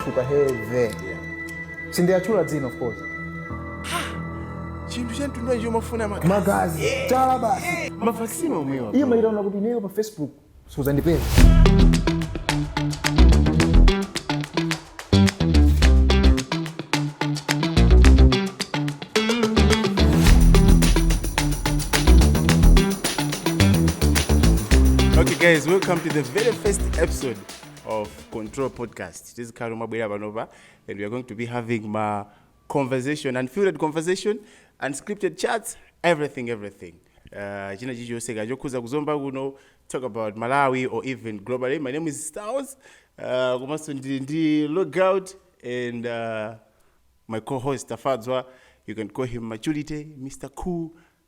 Ndatchuka heavy. Sindiatchula dzina of course. chinthu chamtundu icho amafuna magazi Magazi. Chala basi. mavaccine omwewa Iye ataona kuti ineyo pa Facebook suzandipeza. okay guys welcome to the very first episode of control podcast tizikhala tomabwera panopa and weare going to be having ma conversation unfiltered conversation unscripted chats everything everything uh, china chilichonse ka chokhuza kuzomba kuno talk about malawi or even globally my name is stars uh, komanso ndili ndi logout and uh, my co-host tafadzwa you can call him maturity mr cool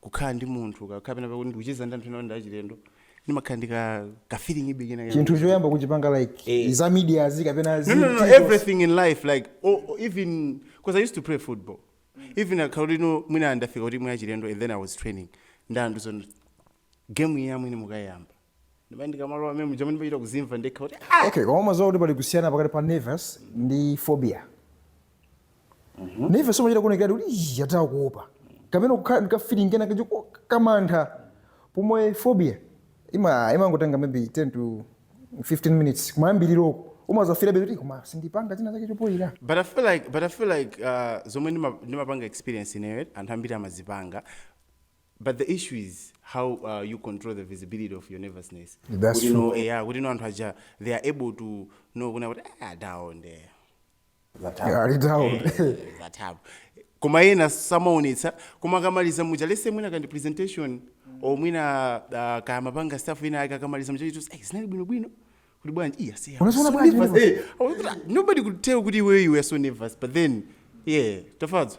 kukhala ndi munthu ka- kapena pakuti ndikucheza ndi anthu ena ndi achilendo ndimakhala ndi ka ka feeling ngati ndi chinthu choyamba kuchipanga like Eh. za media azi kapena no, no, no, zinthu- everything in life like oh, oh, even because i used to play football even kukhala kuti no mwina ndafika kuti mwachilendo and then i was training ndi anthu zoona game iyi amwene mukayamba Ndipo ndikamalowa mmenemuja man ndimachita kuzimva ndekha kuti ah! Okay, koma umadziwa kuti pali kusiyana pakati pa nervous ndi phobia. Mm -hmm. Nervous umachita kuonekera kuti ii yataka kuopa. Kapena kukhala ndi feeling kenakake kamantha. Pomwe phobia ima imangotenga maybe 10 to 15 minutes kumayambiriroko umadzafeelabe kuti koma sindipanga china chake chopoira but i feel like uh, zomwe ndimapanga experience ineyo anthu ambiri amazipanga But the issue is how uh, you control the visibility of your nervousness. That's kuti true. no eya kuti no anthu aja they are able to know kunena kuti ah down there. Yeah, ali down. Eh, zathapo. Koma ena samaonetsa koma akamaliza muja let's say mwina kaya ndi presentation or mwina uh, akamapanga stuff inayake akamaliza muja amati eh sindinali bwinobwino kuti bwanji iya siya. Unaziona bwanji nervous? Eh, I was like, nobody could tell kuti iweyo you were so nervous but then yeah tafadzo.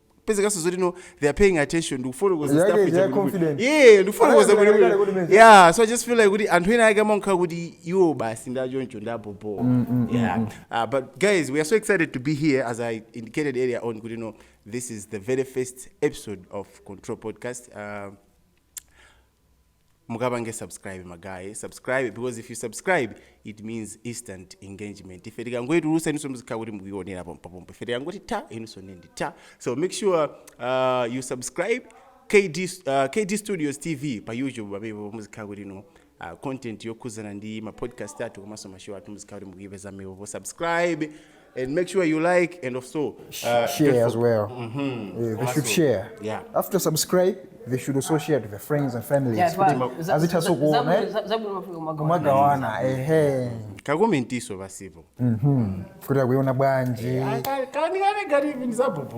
kupezekanso zoti no they are paying attention ndikufotokoza Yeah, stuff yeah, ija yeah, kuti- confident. yeah ndikufotokoza Anayambira kuti- kale kuti message. yeah so i just feel like kuti anthu ena ake amakhala kuti iwo basi ndachoncho ndabobo yeah uh, but guys we are so excited to be here as i indicated earlier on kuti no this is the very first episode of control podcast uh, mukapange subscribe magaye subscribe because if you subscribe it means instant engagement ife tikangoyitulusa inunso muzikhala kuti mukuyionera pompopompo ife tikangoti ta inunso ndi ta so make sure uh, you subscribe KD, uh, KD Studios TV pa YouTube pamenepo muzikhala kuti inu uh, content yokhuzana ndi ma podcast athu komanso ma show athu muzikhala kuti mukuyipeza pomwepo subscribe and make sure you like and also uh, share as well. Mm -hmm. yeah, they should share. Yeah. After subscribe, they should also share to their friends and families. Yeah, right. As it has so gone, eh? Magawana, eh, eh. kakomentiso pasipo mhm. kuti akuiona bwanji eh,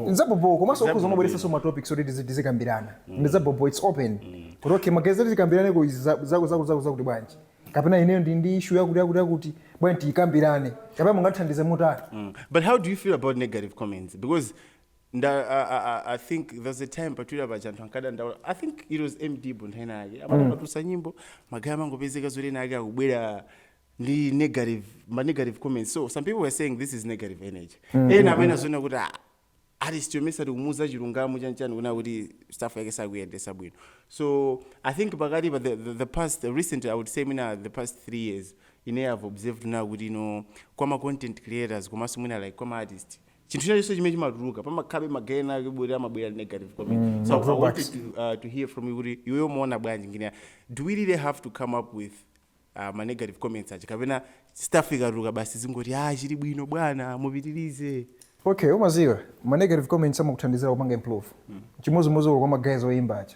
nzabobo komanso ukhoza umabweresanso matopics oti tizikambirana mm. ndi zabobo its open mm. kuti okay magazeti tikambirane zako zako zako zakuti bwanji kapena ineyo ndili ndi issue yakuti yakuti yakuti bwanji tiyikambirane kapena mungathandize motani Mm. But how do you feel about negative comments? Because nda, I, I, I- I think there's a time pa Twitter paja anthu ankadandaula i think it was md but nthawi inayake atatulutsa nyimbo magaye amangopezeka zoti ena ake akubwera ndi negative ma negative comments so some people were saying this is negative energy ena amene amaziona kuti ah, artist yomwe satikumuuza chilungamo chanchani kunena kuti stuff yake sakuyendesa bwino so i think pakati pa the, the, the past the recent i would say mwina the past three years ine have observed kunena kuti no kwa ma content creators komanso mwina like kwa ma artist chinthu chachonse chimene chimatuluka pamakhabe magayi ena ake obwera amabwera negative comment mm, so i wanted to, uh, to hear from you kuti iweyo umaona bwanji ngini do we really have to come up with ah, ma negative comments aja kapena stuff ikatuluka basi zingoti ah chili bwino bwana mupitirize okay umaziwa ma negative comments amakuthandizira kupanga improve chimodzimodzi kwa magayi oyimba aja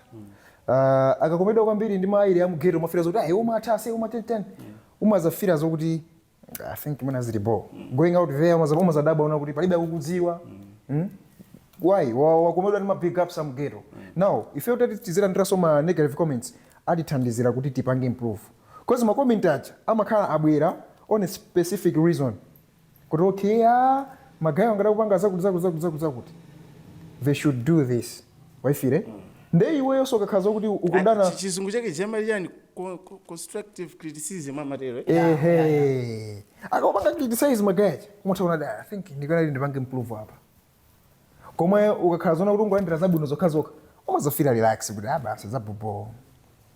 uh, akakomedwa kwambiri ndi ma hailer a mu ghetto umafila zoti ayi umatha aise umatani tani umazafila zokuti I think mwina zili bo going out there umaza umazadabwa kunena kuti palibe akukudziwa mm? why Wa- wakomedwa ndi ma big ups a mu ghetto now ife titati tizilandiranso ma negative comments atithandizira kuti tipange improve cause ma comment aja amakhala akubwera on a specific reason kuti okay ah, magayewa akanatha kupanga zakuti zakuti zakuti zakuti zakuti they should do this waifila nde iweyonso ukakhala zokuti ukudana Chi- chizungu chake chiyani chani Co- co- constructive criticism amatero eh? ehe akapanga criticize magaye aja umatha kuona kuti i think ndikanati ndipange improve apa koma iwe ukakhala zona kuti ungolandira zabwino zokhazokha umazafila relax kuti ah basi za bhobho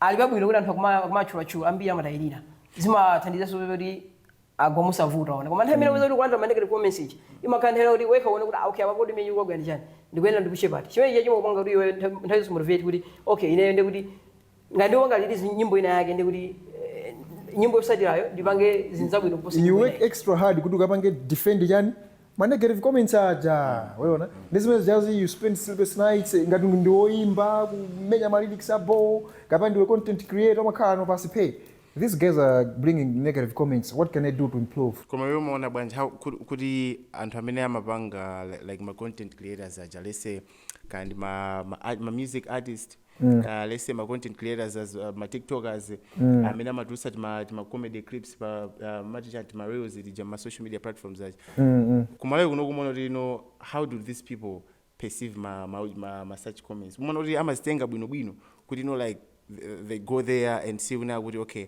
ali pabwino kuti anthu akuma- akumatchulatchula ambiri amatayirira zimathandizanso kuti kuti agwe mosavuta ona koma nthawi imene ukuyamba kulandira ma negative comments ija imakhala nthawi yakuti wekha uone kuti ah, okay apa kodi mmene ndagwa ndi chani ndikuyenera ndipushe pati chimene chija chimakupanga kuti iwe nthawi nthawi zonse motivate kuti okay ineyo ndi kuti ngati ndipanga liti nyimbo ina yake ndi kuti eh, nyimbo yotsatirayo ndipange zinthu zabwino kuposa you work extra hard kuti ukapange defend chani Ma negative comments aja waona ndi zimene zijazi you spend sleepless nights ngati ndi woimba kumenya ma lyrics a bho kapena ndiwe content creator umakhala no pasi phe these guys are bringing negative comments what can I do to improve? Koma iwe umaona bwanji how kuti, kuti anthu amene amapanga li- like ma content creators aja let's say kaya ndi ma, ma, art- ma music artist mm. uh, let's say ma content creators as uh, ma tiktokers mm. amene amatulutsa tima, tima comedy clips pa uh, timaujeni tima reels tija ma social media platforms aja mm, mm. kumalawi kuno umaona kuti no how do these people perceive ma, ma, ma, ma such comments umaona kuti amazitenga bwinobwino kuti no like th- they go there and see kunena kuti okay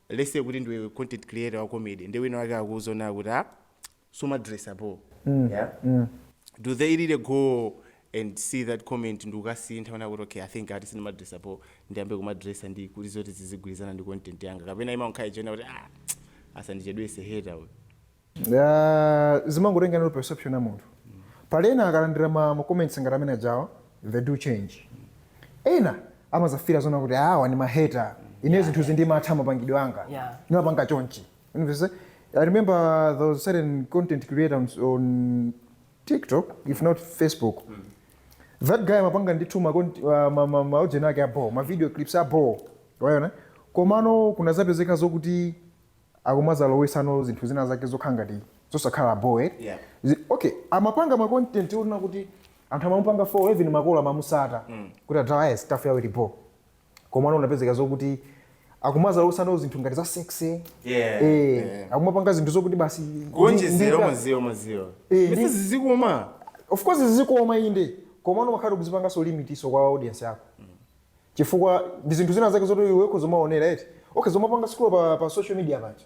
let's say kuti ndiwe content creator wa comedy ndi wina wake akuuza zoona kuti ah sumadresa bho yeah do they really go and see that comment ndikukasintha kunena kuti okay i think ati sindimadresa bho ndiyambe kumadresa ndi kuti zoti zizigwirizana ndi content yanga kapena imangokhala ija yonena kuti ah asandichedwese hater uyu Ah, zimangotengeranso perception ya munthu pali ena akalandira ma ma comments ngati amene ajawa they do change ena amazafila zona kuti awa ni maheta ine zinthu izi ndimatha mapangidwe anga Yeah. ndimapanga chonchi And we say, I remember there was a certain content creator on, on TikTok, if not Facebook. That guy amapanga ndithu ma content- uh, ma- ma- ma audio ake abo, ma video clips abo. Waona? Komano kunazapezeka zokuti akumazalowesanso zinthu zina zake zokhala ngati zosakhala bho eh? Yeah. Zi- okay amapanga ma content onena kuti anthu amamupanga follow even makolo amamutsata kuti adala yes stuff yawo ilipo komano kunapezeka zokuti akumazalowesa nawo zinthu ngati za sexy Yeah, eh, yeah. akumapanga zinthu zokuti basi kuonjezera ndi- maziwa maziwa Eh, ese ndi- zizikoma of course zizikoma inde komano umakhala ukuzipanganso limitinso kwa audience yako chifukwa ndi zinthu zina zake zoti iwe ukuzomaonera eti okay zomapanga scroll pa, pa social media panja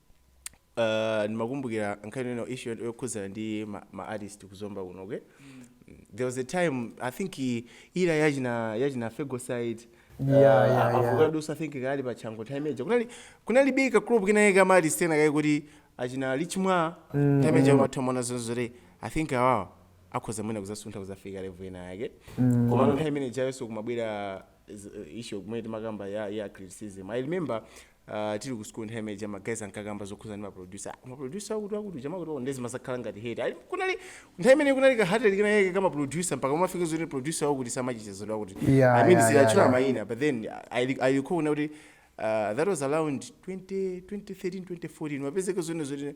Uh, ndimakumbukira nkhani ino issue yokhudzana ndi ma, ma artist ku Zomba kuno okay mm. there was a time i think i- era ya achina yachina Fego side Yeah, yeah, yeah. Avokado sa i think kali pa chango time ija kunali kunali be kagroup kinayake ka ma artist ena ake kuti achina lichimwa mm. time ija umatha kuona zoona zoti i think awawa akhoza mwina kuzasuntha kuzafika level ina yake mm. koma mm. time imene ijayonso kumabwera z- issue imene timakamba ya ya criticism i remember Uh, tili ku school nthawi imene ija ma guys ankakamba zokhuza ndi ma producer ma producer wakuti wakuti chama kuti nde zimazakhala ngati hate ali kunali nthawi imene kunali ka hatred kenakake ka ma producer mpaka umafika zoti producer wakuti samacheza ndi wakuti Yeah, i mean yeah, sindi yeah, tchula yeah. maina but then i re- i recall now kuti uh, that was around 20 2013 2014 wapezeka zonena zoti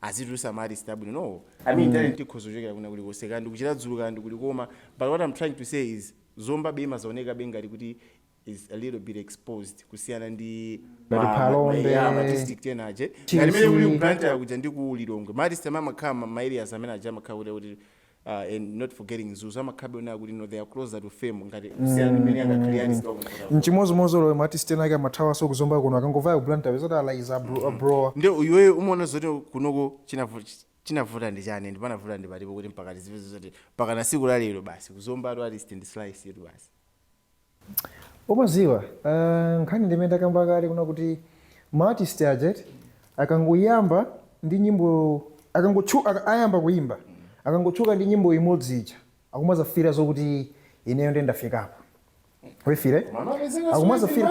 azitulusa ma artist abwino no i mean talent ikhoza kuchokera kwina kulikonse kaya ndi ku Chiradzulu kaya ndi kuti koma but what i'm trying to say is Zombabe imazaonekabe ngati kuti is a little bit exposed kusiyana ndi Ngati ma- Phalombe. ma- yeah, ma district ena aje Chisi. ngati mene kuli ku Blantyre kuja ndi ku Lilongwe ma artist amene amakhala ma- ma areas amene aja amakhala kuti kuti uh, and not forgetting Mzuzu amakhalabe onena kuti no they are closer to fame ngati kusiyana mmene angakhale ali kwa mvula chimozimozi olo ma artist ena ake amathawaso ku Zomba kuno akangovaya ku Blantyre upeza oti alaiza abrowa nde iwe umaona zoti kunoko chinavu- chinavuta ndi chani and panavuta ndi patipo kuti mpaka tizive zoti mpakana siku la lero basi ku Zomba kwathu artist ndi slice yathu basi Umaziwa nkhani ndi imene ndakamba kale kunena kuti ma artist aja eti akangoyamba ndi nyimbo akangotchu ayamba kuimba akangotchuka ndi nyimbo imodzi ija akumazafila zokuti ineyo nde ndafikapo waifila akumazafila.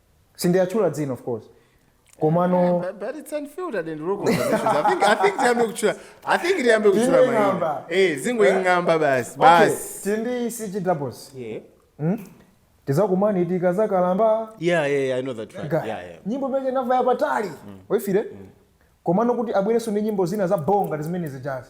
sinditchula dzina of course komano But, but it's unfiltered and raw conversations. I think I think tiyambe kuchula. I think tiyambe kuchula Zingoi- maina. ng'amba. Eh, zingoing'amba basi. okay Basi. titi ndi CG doubles Yeah. tizakumana tikazakalamba Yeah, yeah, yeah, I know that track. Ga- Yeah, yeah. nyimbo imene inavaya patali waifila komano kuti abwerenso ndi nyimbo zina za bho ngati zimene zijazi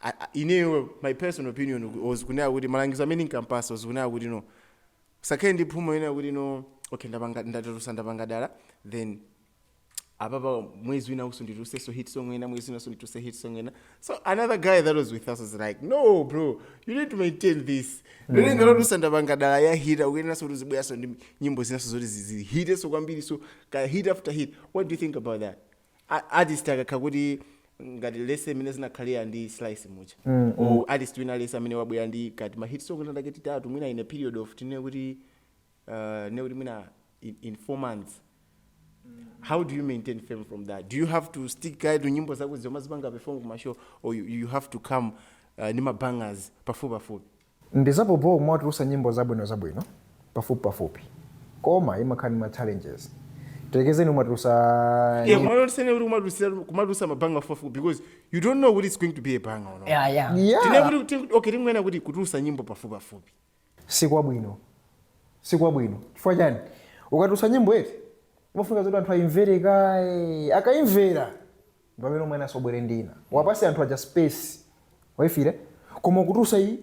I- I- ineyo my personal opinion ku- was kunena kuti malangizo amene ndinkampasa was kunena kuti no usakhale ndi phuma yonena kuti no okay ndapanga ndatusa ndapanga dala then apapa mwezi wina usundituse so hit song ena mwezi wina usundituse hit song ena so another guy that was with us was like no bro you need to maintain this ngati watusa ndapanga dala yahita ukuyeneranso kuti uzibweranso ndi nyimbo zinanso zoti zizihiteso kwambiri so ka hit after hit what do you think about that a- artist akakhala kuti ngati let's say imene zinakhalira ndi slice muja Mm, or artist wina let's say amene wabwera ndi ka tima hit song tinatake titatu mwina in a period of tinene kuti uh, ne kuti mwina in, in four months how do you maintain fame from that do you have to stick kaye to nyimbo zako zomwe umazipanga perform ku mashow or you, you have to come uh, ndi mabangers pafupi pafupi Ndizabhobho kumawatulusa nyimbo zabwino zabwino pafupi pafupi koma imakhala ndi ma challenges tiyerekeze kumatulusa Yeah, nyimbo kumalo tisanene kuti kumadusira- kumatusa mabanger pafupipafupi because you don't know kuti it's going to be a banger or not. Yeah, yeah. yeah Tine kuti- ti- okay, tingonena kuti kutulusa nyimbo pafupipafupi sikwabwino sikwabwino chifukwa chani ukatulusa nyimbo eti umafunika zoti anthu ayimvere kaye akayimvera Pamene umwenaso ubwere ndi ina. Uwapase anthu aja space. Aifile? Koma ukutulusa iyi?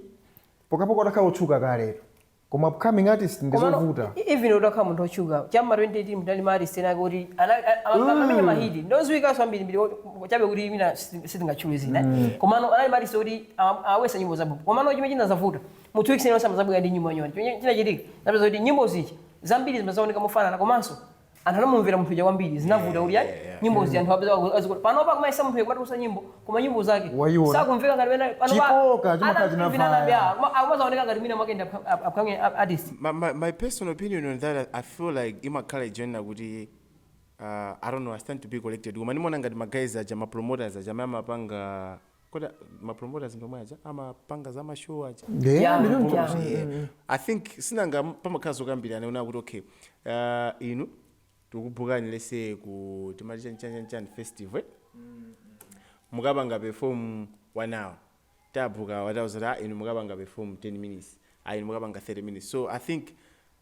Pokhapokha utakhala otchuka kaletu. Koma upcoming artist ndi Komano zovuta. e- even utakhala munthu otchuka cha m'ma 2018 munali ma artist ena ake oti ana- a- a- amamenya mahiti odziwikanso ambirimbiri oti- chabe kuti mwina sitin- sitingatchule dzina eh. komano anali ma artist oti awa- awesa nyimbo zabwino komano chimene chinazavuta mu two weeks iliyonse amazabwera ndi nyimbo yanyuwani chimene chinachitika napeza kuti nyimbo zija zambiri zimazaoneka mofanana komanso anthu anamumvera munthu uja kwambiri zinavuta kuti ayi Yeah, yeah. nyimbo zi anthu apeza waku- azikuti panopa akumayesa munthu uyu akumatulusa nyimbo koma nyimbo zake Wayiona. sakumveka ngati wena Chikoka chimakhala chinavaya. akumazaoneka ngati mwina mwake ndi up- up- upcoming artist my, my, my personal opinion on that i feel like imakhala chonena kuti uh, i don't know i stand to be corrected koma ndimaona ngati maguys aja mapromoters aja amene amapanga kodi a- ma promoters ndi omwe aja amapanga za ma show aja Yeah, Yeah, ndi choncho. yeah. Kuti, eh, i think sinanga pamakhala zokambirana kunena kuti okay uh, inu tikubukani let's say ku timati chanchanchanchan festival eh? mukapanga perform one hour tabuka awa tawauza kuti "Ah, inu mukapanga perform 10 minutes ah, inu mukapanga 30 minutes so i think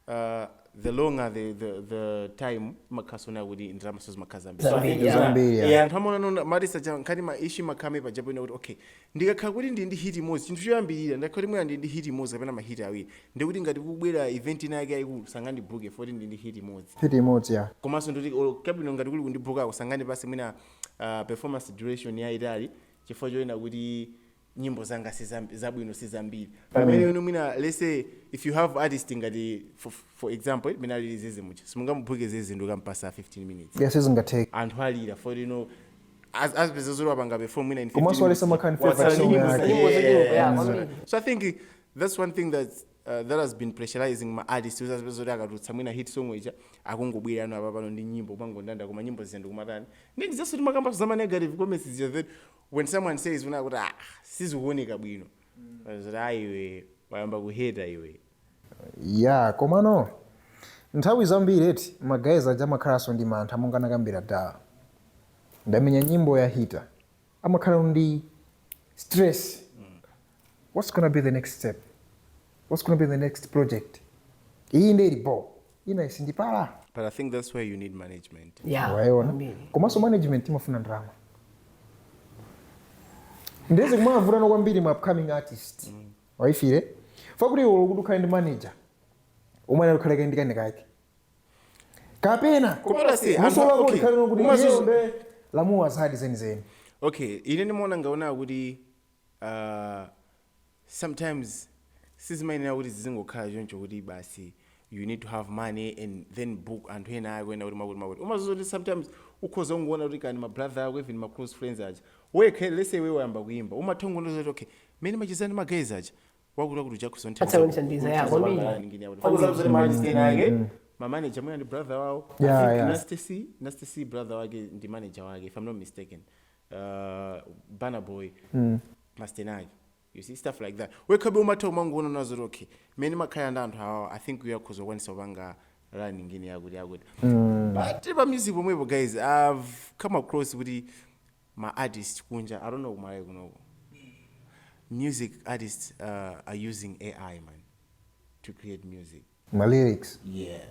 uh, the longer the, the, the time imakhalanso kuti ndalamanso zimakhala zambiri So I think, Zambiri, yeah, zambiri, yeah. yeah. anthu amaona marisa cha nkhani ma issue amakhala pajapo kuti okay ndikakhala kuti ndili ndi hit imodzi chinthu choyambirira ndakhala kuti mwina ndili ndi hit imodzi kapena ma hit awiri ndikuti ngati kubwera event ina yake yayikulu sangandibuke poti ndili ndi hit imodzi hit imodzi ya komanso ndikuti olo kabwino ngati kuli kundibukako sangandipase mwina uh, performance duration yayitali chifukwa chonena kuti nyimbo zanga si zabwino sizambiri pamene mm. mwina let's say if you have artist ngati for, for example eh, mina lili zeze mucha simungamubhuke zeze ndikumupatsa 15 minutes yes sizingatheke anthu alira for you know azipeza zoti wapanga perform mwina in 15 komanso alisa makani so i think that's one thing that Uh, that has been pressurizing ma artist kuti azipeza kuti akatulutsa mwina hit song ija akungobwera ano apapano ndi nyimbo umangondanda koma nyimbo zija ndikumatani ndi ndi zanso timakambanso za ma negative comments zija then when someone says una kuti ah sizikuoneka bwino zoti ah iwe wayamba kuheta iwe ya komano nthawi zambiri eti magayizi aja amakhalanso ndi mantha monga anakambira Dala ndamenya nyimbo yahita amakhala ndi stress what's gonna be the next step what's gonna be the next project iyi nde ili bho inayi sindipala But I think that's where you need management. Yeah. wayiona Amene. komanso management imafuna ndalama nde zikumavutano kwambiri ma upcoming artist waifire chifukwa choti iwe kuti ukhale ndi manager omwe anali ukhale kaye ndi kenakake kapena Koma lasi, anthu- musowa okay. kuti ukhale nokuti Koma iyeyo zizi- nde wamva zadi zenizeni Okay, ine ndimaona ngati kuti uh, sometimes sizimayenera kuti zizingokhala choncho kuti basi you need to have money and then book anthu enaake ena kuti mwakuti mwakuti umadziwa kuti sometimes ukhoza kungoona kuti kani ma brother ako even ma close friends aja wekha let's say iwe wayamba kuimba umatha kungoona zoti okay mmene timachezera ndi ma guys aja wakuti wakuti uja akhoza Atha kunithandiza, yeah, kwambiri. kuti machezani ake ma manager mwina ndi brother wawo Yeah, I think yeah. Nasty C- Nasty C brother wake ndi manager wake if i'm not mistaken uh, Burna Boy mm. Mastenag you see stuff like that wekhabe umatha umangoona nazo lokhe mmene makhala ndi anthu awawa i think uyakhoza kukwanisa kupanga rani ngine yakuti yakuti mm. but pa music pomwepo guys i've come across kuti ma artist kunja i don't know kumalayi kunoko music artists uh, are using ai man to create music my lyrics yeah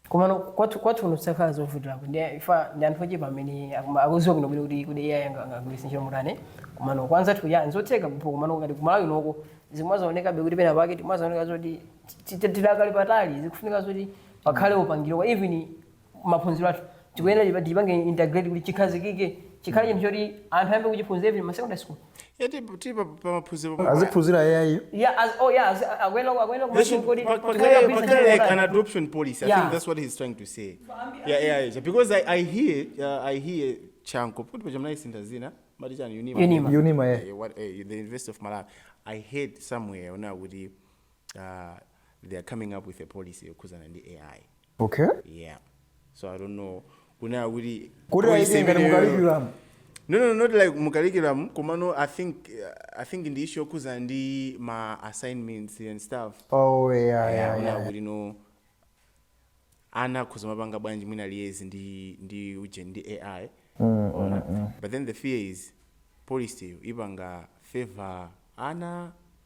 Komano kwathu kwathu kuno kuzakhala zovutirapo chifukwa ndi anthu ochepa amene akuma- akuziwa bwino bwino kuti kuti AI anga- angagwiritse ntchito motani komano kwa anzathu ya nzotheka kumpo komano ngati ku Malawi konkuno zikumazaonekabe kuti pena pake zimazaoneka zoti ti- ti- tidakali patali zikufunika zoti pakhale upangiri wa even maphunziro athu tikuyenera tipa- tipange integrate kuti chikhazikike chikhale chinthu choti anthu ayambe kuchiphunzira even ma secondary school Yati kuti pa pa maphunziro pa. aziphunzira yayi Yeah, as, oh yeah, as, akuyenera akuyenera They should kumakodi pa- pa- kaya- pa- kaya like an adoption policy. I Yeah. think that's what he's trying to say. Yeah, yeah, yeah. Because I, I hear, uh, I hear Chanko. Put put Jamaica in Tazina. Madija and Unima. Unima. Unima, yeah. Eh, what, eh, the University of Malawi. I heard somewhere now with the, uh, they are coming up with a policy of Kuzana and the AI. okay yeah so i don't know kunena kuti kuti policy yake ngati imeneyo- mu curriculum no no not like mu curriculum komano i think i think ndi issue yokhuzana ndi ma assignments and stuff oh yeah yeah, yeah, kunena yeah. kuti no ana akhoza kumapanga bwanji mwina liaise ndi ndi uje ndi ai Ona. but then the fear is policy yo ipanga favor ana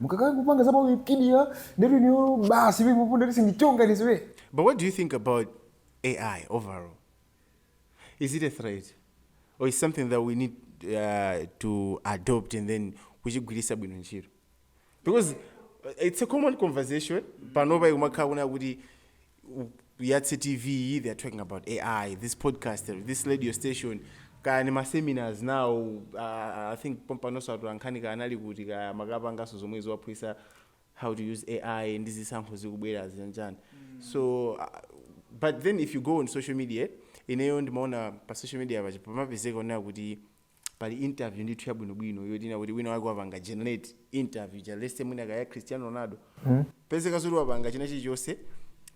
mukakhala mukupanga za pa Wikipedia ndetu inuyo basi pipupu ndetu sindili choncho ine sure But what do you think about AI overall? Is it a threat? Or is something that we need uh, to adopt and then kuchigwiritsa bwino ntchito? Because uh, it's a common conversation panopa ikumakhala kunena kuti yatse tv iyi they are talking about ai this podcast this radio station kaya ni maseminars now uh, i think pompanonso atolankhani kaya anali kuti kaya amakapanganso zomwe zowaphunzitsa how to use ai ndi zisankho zikubwerazi chanichani so uh, but then if you go on social media ineyo ndimaona pa social media paja pamapezeka onena kuti pali interview ndithu yabwinobwino yoti mwina kuti wina wake wapanga generate interview ja let's say mwina kaya ya cristiano ronaldo pezeka zoti wapanga china chilichonse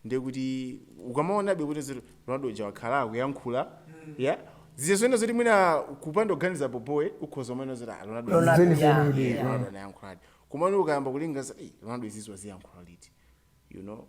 ndiye kuti ukamaonabe kuti zoti ronaldo ja wakhala akuyankhula yeah zenizeni zoti mwina kupanda kuganiza bobo iwe ukhoza kumaona zoti ah, ronaldo Ronaldo, izi- yeah, Zenizeni yeah. kuti, Ronaldo anayankhuladi komano ukayamba kulingalira "Ei, ronaldo izizi waziyankhula liti you know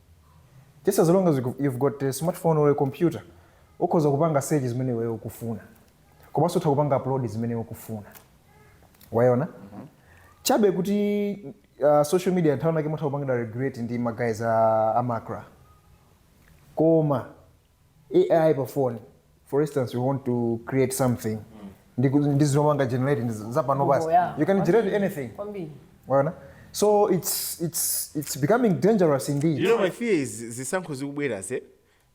just as long as you you've got a smartphone or a computer ukhoza kupanga search zimene iweyo ukufuna komanso utha kupanga upload zimene ukufuna waona chabe kuti uh, social media nthawi nake imatha kupangidwa regulate ndi ma guys a, a macra koma AI pa phone for instance you want to create something ndi ndi zomanga generate ndi za pano basi Google, yeah. you can generate anything kwambiri Mwaona? so it's it's it's becoming dangerous indeed you know my fear is zisankho zikubwerazi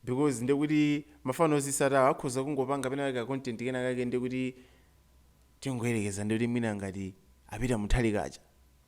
because ndekuti mafano ozitsata akhoza kungopanga pena kake content kena kake ndekuti tingoyerekeza ndekuti mwina ngati a Peter Mutharika ja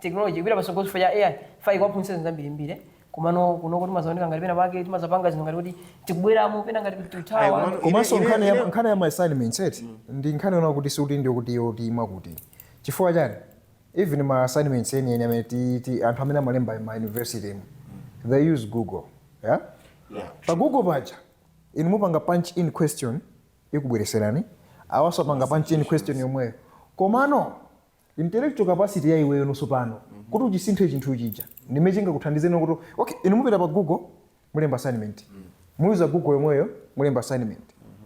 technology ikupita patsogolo chifukwa cha AI ifo ikuwaphunzitsa zinthu zambirimbiri komano kunoko timadzaoneka ngati pena pake timazapanga zinthu ngati kuti tikubweramo pena ngati kuti tikuthawa Ayi, komano- komanso Ine- nkhani ine- ya- nkhani ya ma assignments eti ndi nkhani yona kuti sikuti ndi kuti yoipa kuti chifukwa chani even ma assignments eni eni amene ti- ti- anthu amene amalemba ma university mu they use google yeah? Yeah. pa google paja inu mupanga punch in question ikubweretserani awanso apanga punch in question lomwelo komano intellectual capacity ya iweyo now tsopano kuti uchisinthe chinthu chija ndi chimene chingakuthandizeni now kuti okay inu mupita pa google mulemba assignment muyuza google yomweyo mulemba assignment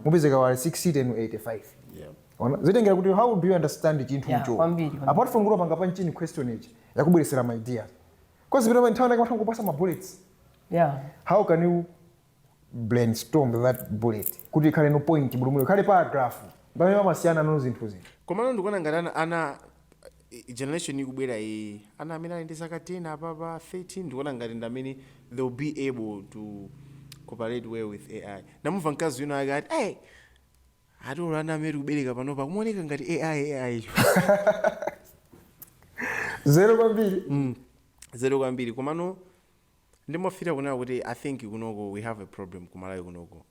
mupezeka awa ali 60 inu 85 ona zimatengera kuti how do you understand chinthu Yeah, icho kwambiri, kwambiri. apart from kuti wapanga punch in question ichi yakubweretsera ma ideas cause GPT pa nthawi ina yake imangokupatsa ma bullets yeah how can you brainstorm that bullet kuti ikhale now point full mwina ikhale paragraph ndi pamene pamasiyana now zinthuzi. Komano ndikuona ngati ana ana i- generation ikubwera iyi ana amene ali ndi zaka 10 apapa 13 ndikuona ngati ndi amene they will be able to cooperate well with ai ndinamumva mkazi wina ake ati hey, ati olo ana amene tikubereka panopa akumaoneka ngati ai anzeru kwambiri anzeru kwambiri komano Ndimafila kunena kuti I think kunoko we have a problem ku Malawi kunoko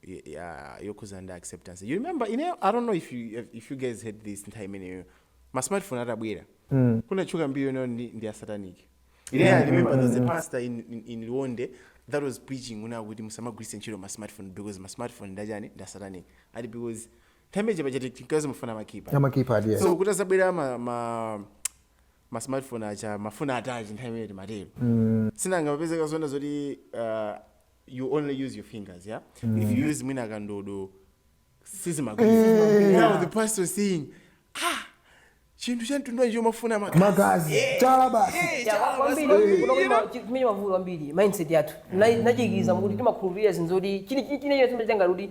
yokhuzana ndi acceptance. You remember ineyo I don't know if you if you guys heard this nthawi imeneyo ma smartphone atabwera mm. kunatchuka mbiri yonena kuti ndi asataniki ine yeah, I remember there was a mm. pastor in, in, in Liwonde that was preaching kunena kuti musamagwiritse ntchito ma smartphone because ma smartphone ndi achani ndi asataniki ati because nthawi imeneyo pachati tinkazimafuna ma keypad so kuti atabwera ma, ma ma smartphone aja amafuna touch nthawi imene timatero si nanga mapezeka zona zoti uh, you only use your fingers yeah if you use mwina kandodo sizimagwira now the pastor saying ah chinthu cha mtundu wanji chomafuna magazi magazi chala basi amene mavuto ambiri mindset yathu nachikiriza kuti timakhulupirira zinthu zoti chili chili chimene chimene changati kuti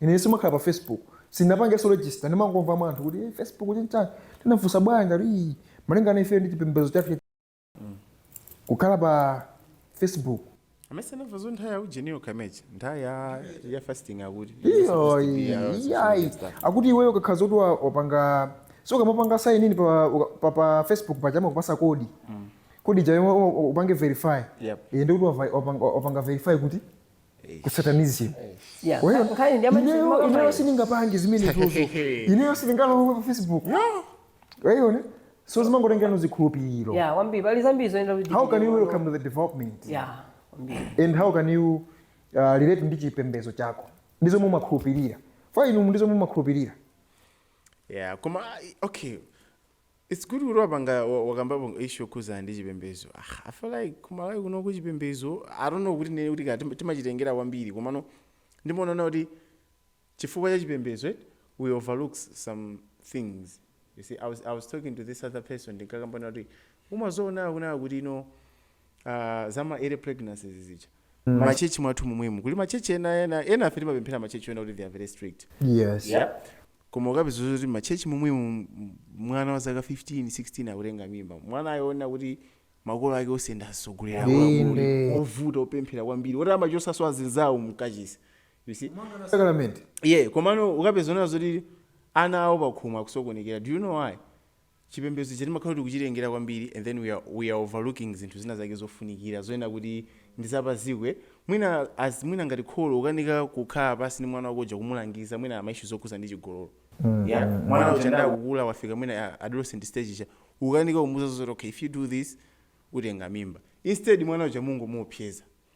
Ine simakhala pa Facebook. Sindinapangenso register. Ndimangomva mwa anthu kuti eh, Facebook chinchani. Tinafunsa bwanji kuti ii, malingana ifeyo ndi chipembedzo chathu chakukhala pa Facebook. mmene anamvazo nthawi ya ujeniyo kamechi nthawi ya ya fasting akuti Iyo, iyayi. Akuti iweyo ukakhala zoti wa- wapanga so ukamapanga sign in pa, uka- pa, pa Facebook paja amakupasa code. Code ijayo upange verify. Yep. Iye ndikuti wava- wapanga wapanga verify kuti ku satanism Yeah, Well, nkhani- nkhani ndi ya machiritso ineyo maka ineyo fine. sindingapange zimenezozo ineyo sindingalowe pa facebook waona so zimangotengera zikhulupiriro Yeah, kwambiri pali zambiri zonena kuti how can you tichite. welcome to the development Yeah, kwambiri. and how can you uh, relate ndi chipembedzo chako ndi zomwe umakhulupirira fa inu ndi zomwe umakhulupirira yeah koma i- okay It's good kuti wapanga wakambapo issue yokhuzana ndi chipembezo ah, I feel like ku Malawi kunoko chipembezo I don't know kuti ndinene kuti kaya timachitengera kwambiri komano ndimaona ngati chifukwa cha chipembezo eh, we overlook some things you see I was, I was talking to this other person tinkakambana kuti umazaona kunena kuti you know Aaa za ma early pregnancies zija ma church mwathu momwemu kuli ma church ena ena ena ife timapemphera ma church ena kuti they are very strict yes yeah koma ukapeza zoti ma church momwemu m- mwana wa zaka 15 16 akutenga mimba mwana woona kuti makolo ake onse ndi atsogoleri Inde. ovuta opemphera kwambiri oti amachosaso azinzawo mkachisi you see sakalamenti yeah komano ukapezanso kuti ana awo pakhomo akusokonekera do you know why Chipembedzo chija timakhala kuti tikuchitengera kwambiri and then we are we are overlooking zinthu zina zake zofunikira zonena kuti ndi za pa dziko eh mwina as mwina ngati kholo ukanika kukhala pansi ndi mwana wako uja kumulangiza mwina ma issue zokhuza ndi chigololo yeah mwana uja ndikukula wafika mwina ah, adolescent stage ija ukanika kumuza zoti okay if you do this utenga mimba instead mwana uja ungomuopseza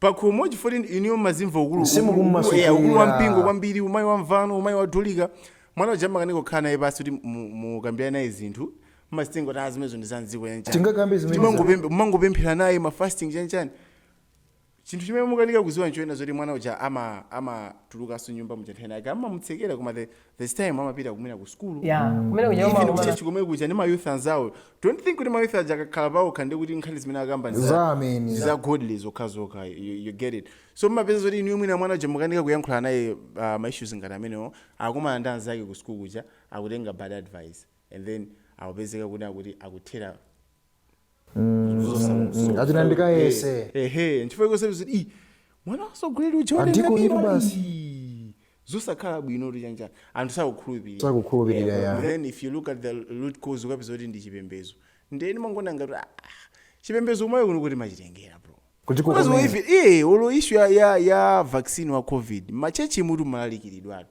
pakhomo chifukwa choti inuyo mmazimva ukulu ukulu Msimu ukulu eya ukulu kummasulira. wa mpingo kwambiri umayi wa mvano umayi wa dulika mwana uja amakanika kukhala naye pasi kuti mu- mukambirane naye zinthu mmazitenga kuti zimenezo ndi za mdziko yanjani Tingakambe zimene Timangopembe- mumangopemphera naye ma fasting chanchani chinthu chimene mukanika kuziwa nchonena zoti mwana uja ama amatulukanso nyumba muja nthawi ina yake amamutsekera koma the there's time amapita kumwina ku sukulu yeah kumene kuja even umakumana kuchechi komwe kuja ndi mayouth anzawo don't think kuti mayouth aja akakhala paokha nde kuti nkhani zimene akamba ndi za- za amene za godly zokhazokha you, you get it so mmapeza zoti inuyo mwina mwana uja mukanika kuyankhula naye uh, maissues ngati amenewo akumana ndi anzake ku sukulu kuja akutenga bad advice and then akupezeka kuti akuti akuthera Mm, ati nandikayese ehe nchifukwa chonse kuti i mwana wasogolera uja Andiko watenga inu bira, basi. ii, zosakhala bwino kuti chanchani anthu sakukhulupirira Sakukhulupirira, yeah. then if you look at the root cause ukapeza kuti ndi chipembezo nde ndimangoona ngati ah, chipembezo mwayo kuno kutimachitengera bro Kuti Because kukomera. even- eh, olo issue ya, ya, ya vaccine wa covid machechi mutu imalalikidwatu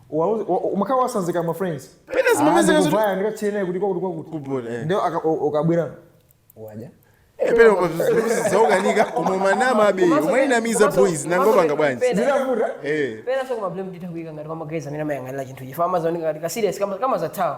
Uwauze- wa- umakhala watsanzika ma friends Pena zimapezeka Ah, zoti- ndikuvaya, ndikachene kuti kwakuti kwakuti Kubona, eh. ndiye aka- u- ukabwera waja pena zakukanika koma umanamabe umainamiza boys nanga upanga bwanji zinavuta Eh. pena so ka blame nditakuika ngati kwa ma guys amene amayang'anira chinthu chifa amazaoneka ngati ka serious kama kama za town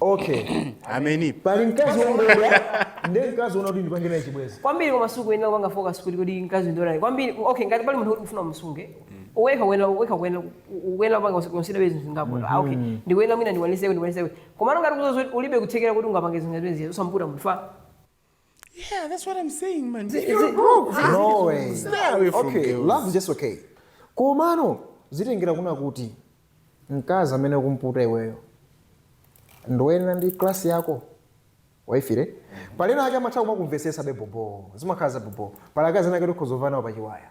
okay I mean pali mkazi wongodula ndi mkazi wonena kuti ndipange naye chibwezi kwambiri kwa masiku uyenera kupanga focus kuti kodi mkazi ndionani kwambiri okay ngati pali munthu kuti ufuna umsunge wekha kuyenera wekha kuyenera kuyenera kupanga consider zinthu zingapo ah okay ndikuyenera mwina ndikwanise kuti ndikwanise kuti koma ngati udziwa ulibe kuthekera kuti ungapange zinthu zimenezo usamputa munthu fa Yeah, that's what I'm saying, man. Zi- You're zi- broke. zi- No way. Stay away from okay, girls. love is just okay. Komano zitengera kunena kuti mkazi amene ukumputa iweyo ndoyenera ndi class yako waifire pali ena ake amatha kumakumvesesa bobobo zimakhala za bobo pali akazi ena ake oti ukhoza vaya nawo pachiwaya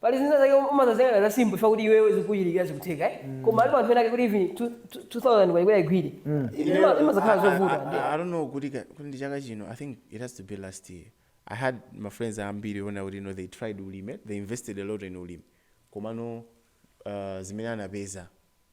Pali zina zake umazaziyang'ana za simple chifukwa kuti iwewe zikukuchitikira zikutheka eh koma alipo anthu ena ake kuti even 2000 kwa iwo kuti aigwire Ima- imazakhala zovuta ndiye I don't know kuti ka- kuti ndi chaka chino i think it has to be last year i had my friends ambiri onena kuti no they tried ulimi they invested a lot in ulimi komano uh, zimene anapeza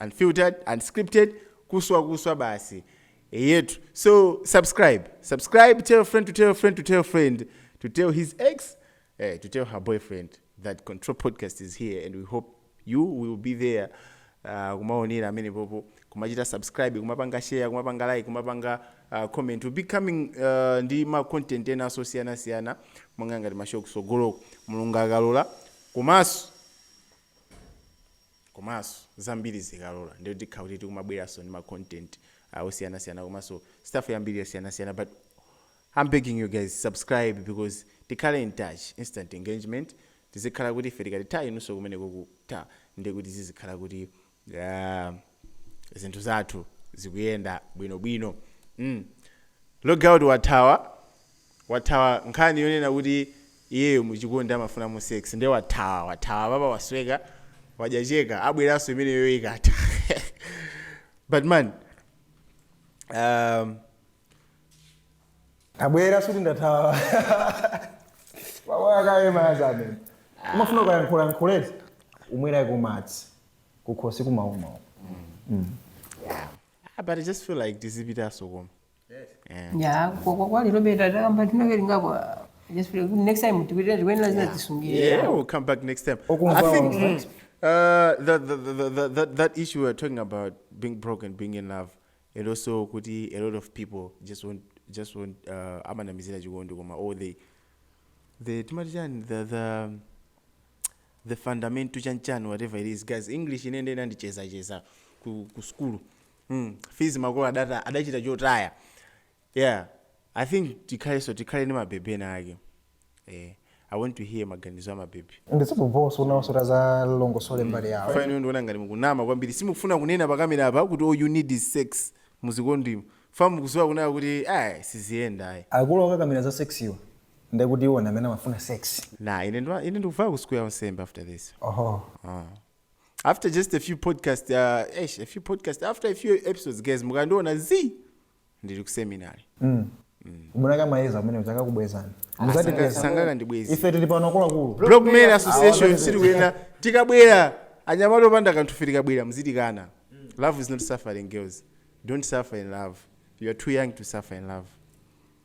unfiltered, unscripted, kuswa kuswa basi eyetu so subscribe subscribe tell a friend to tell a friend to tell a friend to tell his ex eh, to tell her boyfriend that control podcast is here and we hope you will be there uh, kumaonera amene popo kumachita subscribe kumapanga share kumapanga like kumapanga uh, comment we'll be coming uh, ndi ma content ena osiyana siyana monga ngati mashow kusogoloko mulungu akalola komanso komanso zambiri zikalola ndiye tikhala kuti tikumabweranso ndi ma content a osiyanasiyana komanso stuff yambiri yosiyanasiyana but am begging you guys subscribe because tikhale in touch instant engagement tizikhala kuti ife tikati ta inunso kumeneko kuti ta ndiye kuti zizikhala kuti ah, zinthu zathu zikuyenda bwinobwino mm. logout wathawa wathawa nkhani yonena kuti iyeyo mu chikondi amafunamo sex nde wathawa wathawa apapa wasweka wadya cheka abweranso imeneyo ikatha but man um, tabwera suti ndathawa ndamwakaye madzi amene umafuna ukayankhula yankhula eti umwereko madzi kukhosi kumauma mm. yeah. Ah, but i just feel like tizipitanso koma ya kwa kwa kwa lero beta takamba tinake lingako just pray. next time tipitire zikuyenera zina tisungire Yeah, we'll come back next time. Okumva I think wamva. mm, uh, the, the, the, the, the, that issue we were talking about being broke and being in love, and also kuti a lot of people just want just want uh, amanamizira chikondi koma or they the timati chani the the the fundamental chanchani whatever it is guys english inende inandicheza cheza ku, ku skulu mm, fees makolo adata adachita chotaya yeah i think tikhalenso tikhale ndi mabebe ena ake eh, i want to hear maganizo a mabebe ndizimva boss unawasota alongosole mbali yawo fine ndikuona ngati mukunama kwambiri simufuna kunena pakamera apa kuti all you need is sex muchikondimo ifa mukudziwa kunena kuti ayi siziyenda ayi akulu akakamira za sex yo ndekuti iwo ndi amene amafuna sex nah ine ndo- ine ndikufuna kusukulu ya unsembe after this oho Ah. after just a few podcast uh, eish, a few podcast after a few episodes guys muzikandiona ndili ku seminary munaka mayeza amene adzakakubwezani Sanga- sangakandibwezi ife tili pano akuluakulu broke men association sizikuyenda tikabwera anyamata opanda kanthu ife tikabwera mzitikana love is not suffering girls don't suffer in love you are too young to suffer in love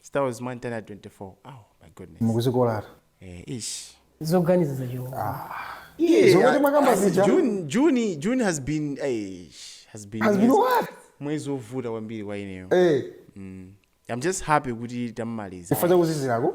Starwars Mwantani 24. Oh my goodness. mukudzikolatu Eh, ish. zoganiza zachilungu zomwe timakamba zija June, June, June has been ish, has been has been mwezi- what mwezi wovuta kwambiri kwa ineyo. eh I'm just happy kuti tamaliza. chifukwa chakuzizirako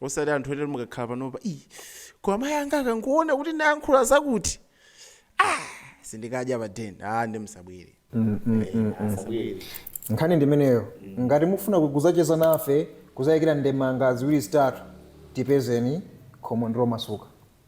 osati anthu ena mukakhala panopa "Ih, koma mayi anga akangoona kuti ndayankhula zakuti ah, sindinkadya pa den ah, nde musabwere nkhani ndimeneyo ngati mufuna kudzacheza nafe kudzayikira ndemanga ziwiri zitatu tipezeni khomo ndilomasuka